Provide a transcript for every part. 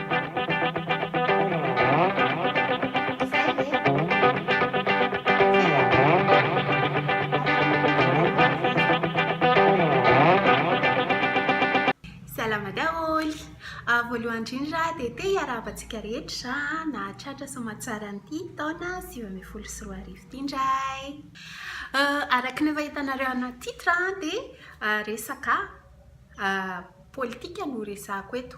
Salama daholo! Voalohany indrindra dia te hiarahaba antsika rehetra nahatratra soamantsara an'ity taona sivy ambin'ny folo sy roa arivo ity indray. Araka ny efa hitanareo anaty titre dia resaka Politika no resahako eto.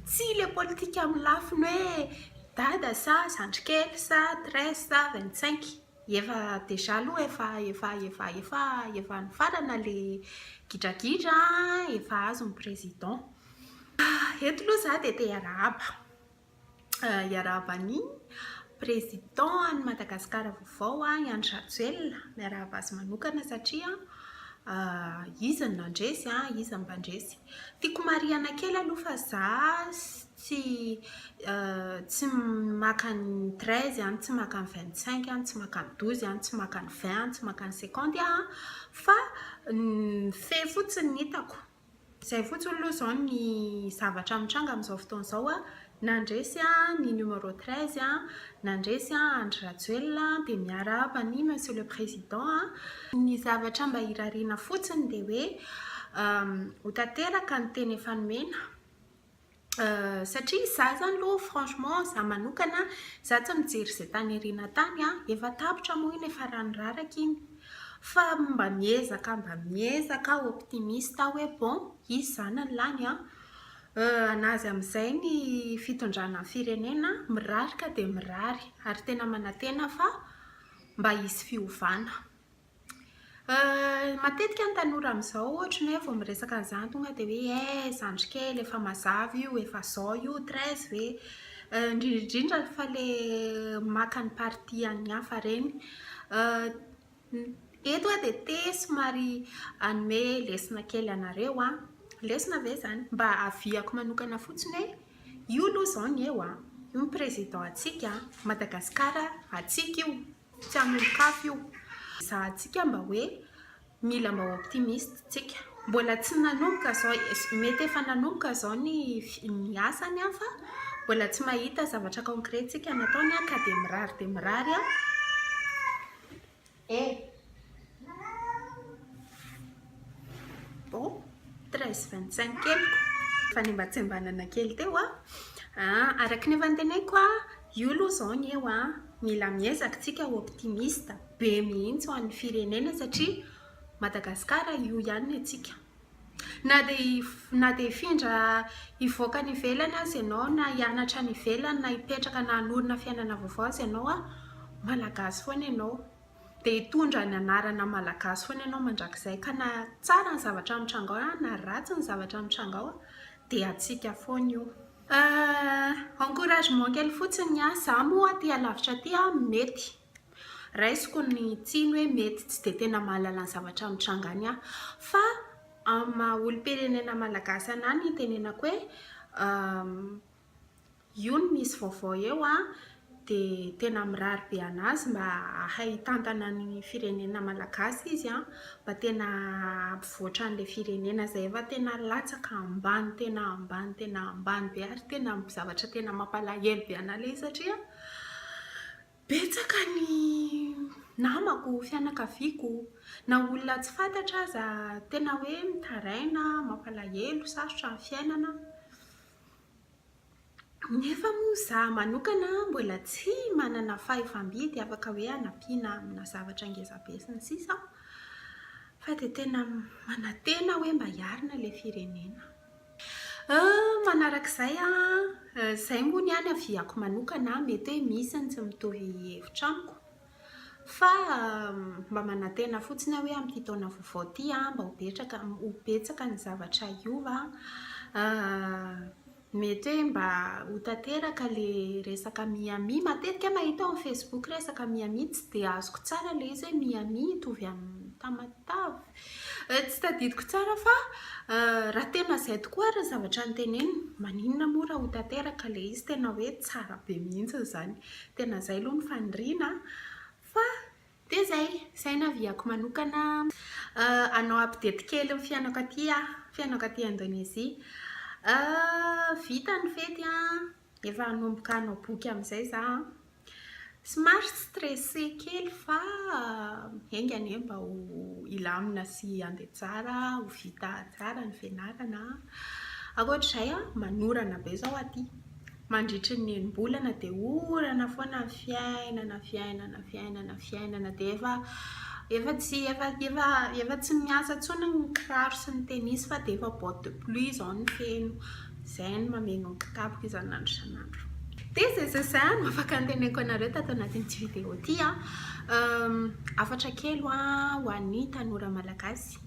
Tsy ilay politika amin'ny lafiny hoe dada sa zandry kely sa treize sa vingt cinq. Efa déjà aloha efa efa efa efa efa nifarana ilay gidragidra an, efa azon'ny président. Eto aloha izaho dia te hiarahaba. hiarahaba ny Président an'i Madagascar vaovao i Andry Rajoelina, miarahaba azy manokana satria izy no nandresy, izy no mpandresy. Tiako marihina kely aloha fa za tsy tsy maka ny treize an, tsy maka ny vingt cinq an, tsy maka ny douze an, tsy maka ny vingt an, tsy maka ny cinquante an fa ny fe fotsiny no hitako. Izay fotsiny aloha izao ny zavatra mitranga amin'izao fotoana izao a, nandresy ny numéro treize a, nandresy Andry Rajoelina dia miarahaba an'i Monsieur le Président a, ny zavatra mba irariana fotsiny dia hoe ho tanteraka ny teny efa nomena. satria izaho izany aloha franchement izaho manokana izaho tsy mijery izay tany aoriana tany an, efa tapitra moa iny efa rano raraka iny fa mba miezaka mba miezaka aho optimiste aho hoe bon hisy izany ny lany an, na aza amin'izay ny fitondrana ny firenena mirary ka dia mirary ary tena manantena fa mba hisy fiovana. Matetika ny tanora amin'izao ohatry ny hoe vao miresaka an'izany tonga dia hoe eh zandry kely efa mazava io, efa zao io, treize ve? indrindra indrindra fa le maka ny parti an'ny hafa ireny. Eto aho dia te somary hanome lesona kely anareo an, lesona ve izany? mba aviako manokana fotsiny hoe io aloha izao ny eo an, io ny président antsika an, Madagasikara antsika io. Tsy hamoron-kafy io. Ezahantsika mba hoe mila mba ho optimiste tsika. Mbola tsy nanomboka zao, mety efa nanomboka zao ny ny asany an fa mbola tsy mahita zavatra concret tsika nataony an ka dia mirary dia mirary an eh! Bon, treize vingt cinq keliko. Fanimbatsimbanana kely teo a. Ah, araka ny efa noteneiko a, io aloha izao ny eo a, mila miezaka isika ho optimiste be mihitsy ho an'ny firenena satria Madagasikara io ihany ny antsika. Na dia na dia hifindra hivoaka any ivelany aza ianao na hianatra any ivelany na hipetraka na hanorina fiainana vaovao aza ianao a, Malagasy foana ianao. dia hitondra ny anarana malagasy foana ianao mandrakizay ka na tsara ny zavatra mitranga ao na ratsy ny zavatra mitranga ao dia antsika foana io. Encouragement kely fotsiny ny ahy, za moa aty alavitra aty mety raisiko ny tsiny hoe mety tsy dia tena mahalala ny zavatra mitranga any aho fa amin'ny maha olom-pirenena malagasy anah ny itenenako hoe Io no misy vaovao eo an! Dia tena mirary be anazy mba hahay hitantana ny firenena malagasy izy an! Mba tena hampivoatra an'ilay firenena izay efa tena latsaka ambany tena ambany tena ambany be ary tena zavatra tena mampalahelo be an'ahy ilay izy satria betsaka ny namako, fianakaviako na olona tsy fantatra aza tena hoe mitaraina, mampalahelo, sarotra ny fiainana. Nefa moa izaho manokana mbola tsy manana fahefa-midy afaka hoe hanampiana amina zavatra ngeza be sy ny sisa aho fa dia tena manantena hoe mba hiarina ilay firenena. Manaraka izay, izay moa ny ahy ny haviako manokana, mety hoe misy ny tsy mitovy hevitra amiko. Fa mba manantena fotsiny aho hoe amin'ity taona vaovao ity mba ho betraka ho betsaka ny zavatra hiova mety hoe mba ho tanteraka ilay resaka Miami. Matetika aho mahita ao amin'ny facebook resaka Miami tsy dia azoko tsara ilay izy hoe Miami hitovy amin'ny Tamatave? Tsy tadidiko tsara fa raha tena izay tokoa ary ny zavatra noteneniny, maninona moa raha ho tanteraka ilay izy? Tena hoe tsara be mihitsy izany. Tena izay aloha ny faniriana fa dia izay, izay no avis-ko manokana. Hanao update kely ny fiainako aty aho, ny fiainako aty Indonezia. Vita ny fety, efa hanomboka hanao boky amin'izay izaho. Somary stressé kely fa enga anie mba ho hilamina sy handeha tsara, ho vita tsara ny fianarana. Ankoatr'izay, manorana be izao aty. Mandritry ny enim-bolana dia orana foana ny fiainana, fiainana, fiainana, fiainana. Dia efa efa tsy efa efa efa tsy miasa intsony ny kiraro sy ny tennis fa dia efa bottes de pluie izao no feno. Izay no mameno ny kitapoko isan'andro isan'andro. Dia izay izay izay no afaka anteneniko anareo tato anatin'ity vidéo ity. Hafatra kely ho an'ny tanora malagasy.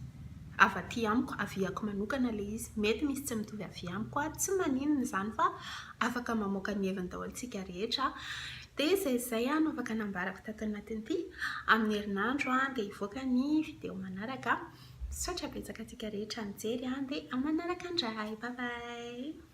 Avy aty amiko, aviako manokana ilay izy. Mety misy tsy mitovy avy amiko, tsy maninona izany fa afaka mamoaka ny heviny daholo isika rehetra. Dia izay izay no afaka nambarako tato anatin'ity. Amin'ny herinandro dia hivoaka ny vidéo manaraka. Misaotra betsaka antsika rehetra nijery an, dia manaraka indray. Bye bye.